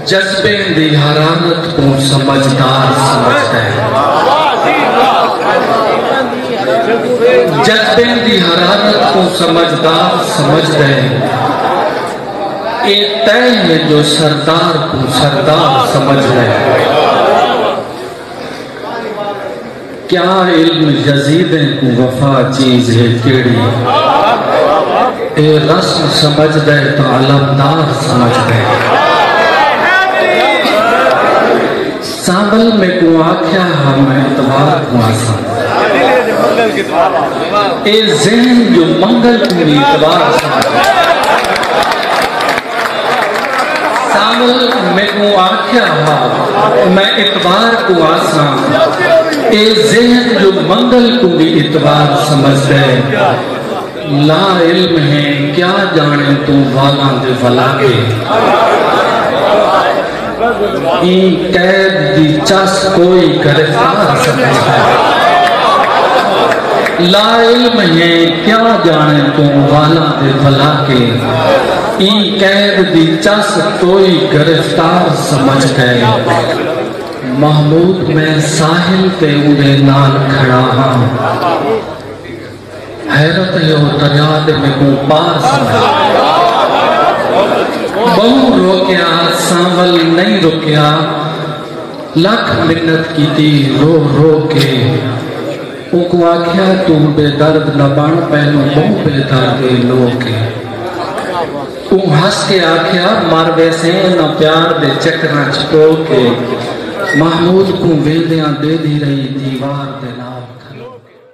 جذبیں دی حرارت کوں سمجھدار سمجھدا ہے جذبیں دی حرارت کوں سمجھدار سمجھدا ہے اے طے ہے جو سردار کوں سردار سمجھدا ہے کیا علم یزیدیں کوں وفا چیز ہے کیڑی اے رسم سمجھ دے تو علمدار سمجھ دے سامل میں کو آکھیا ہاں میں اتوار کو آسا اے ذہن جو منگل کو اتوار سمجھ دے سانول میکوں آکھیا ہا میں اعتبار کو آساں اے ذہن جو منگل کو بھی اعتبار سمجھ دے لا علم ہے کیا جانے تو والا دے والا کے این قید دی چس کوئی گرفتار سمجھ دے لا علم ہے کیا جانے تو والا دے والا کے ای قید دی چس توئی گرفتار سمجھ گئے محمود میں ساحل تے اندے نال کھڑا ہاں حیرت ہے وہ دریا دے میں کو پار سمجھ بہو روکیا سانول نہیں روکیا لکھ منت کی تھی رو رو کے اوکوں آکھیا توں بے درد نہ بݨ پہلوں ٻہوں بے درد اے لوک اے اوں ہس کے آکھیا مر ویسیں انہاں پیار دے چکراں اچ پو کے محمود کوں ویندیاں ڈیدھی رہی دیوار دے نال کھلو کے۔